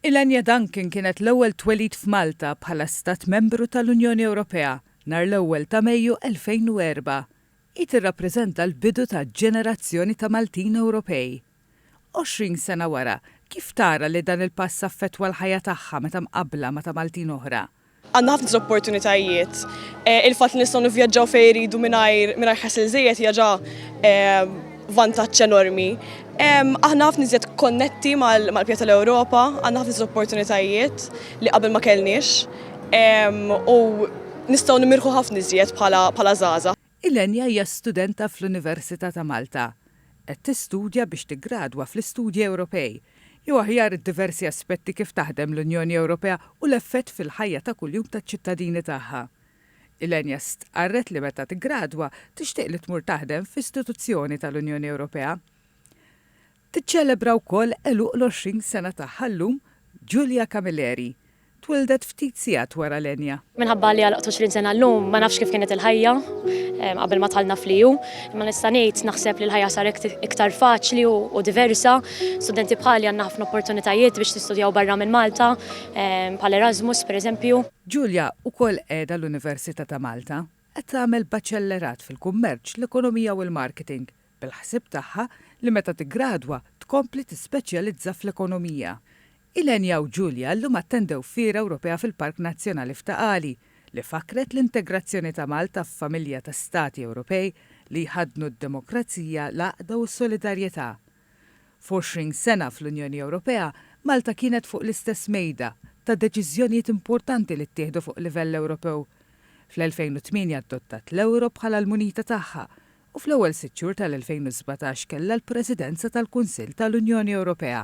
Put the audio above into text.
Ilenia Duncan kienet l-ewwel twelid f'Malta bħala Stat Membru tal-Unjoni Ewropea nhar l-ewwel ta' Mejju 2004. Hi tirrappreżenta l-bidu ta' ġenerazzjoni ta' Maltin Ewropej. Għoxrin sena wara, kif tara li dan il-pass affettwa l-ħajja tagħha meta mqabbla ma' ta' Maltin oħra? Għandna ħafna iżjed opportunitajiet. Il-fatt li nistgħu nivvjaġġaw fejn iridu mingħajr mingħajr ħasil żejjed hija ġa vantaġġ enormi. Aħna ħafna iżjed konnetti mal-bqija tal-Ewropa, għandna ħafna iżjed opportunitajiet li qabel ma kellniex u nistgħu nimirħu ħafna iżjed bħala żgħażagħ. Ilenia hija studenta fl-Università ta' Malta. Qed tistudja biex tiggradwa fl-Istudji Ewropej, jew aħjar id-diversi aspetti kif taħdem l-Unjoni Ewropea u l-effett fil-ħajja ta' kuljum taċ-ċittadini tagħha. Ilenia stqarret li meta tiggradwa tixtieq li tmur taħdem f'istituzzjoni tal-Unjoni Ewropea. Tiċċelebra wkoll għeluq l-20 sena tagħha llum Julia Camilleri. Twieldet ftit sigħat wara Lenya. Minħabba li għalqtu 20 sena llum, ma nafx kif kienet il-ħajja qabel ma dħalna fl-EU. Imma nista' ngħid, naħseb li l-ħajja saret iktar faċli u diversa. Studenti bħali għandna ħafna opportunitajiet biex nistudjaw barra minn Malta, bħal Erasmus, pereżempju. Julia wkoll qiegħda l-Università ta' Malta. Qed tagħmel baċellerat fil-Kummerċ, l-Ekonomija u l-Marketing bil-ħsieb tagħha li meta tiggradwa tkompli tispeċjalizza fl-ekonomija. Ilenia u Julia llum attendew Fiera Ewropea fil-Park Nazzjonali f'Ta' Qali, li fakkret l-integrazzjoni ta' Malta f'familja ta' Stati Ewropej li jħaddnu d-demokrazija, l-għaqda u s-solidarjetà. F'għoxrin sena fl-Unjoni Ewropea, Malta kienet fuq l-istess mejda ta' deċiżjonijiet importanti li ttieħdu fuq livell Ewropew. Fl-2008 adottat l-euro bħala l-munita tagħha u fl-ewwel sitt xhur tal-2017 kellha l-Presidenza tal-Kunsill tal-Unjoni Ewropea.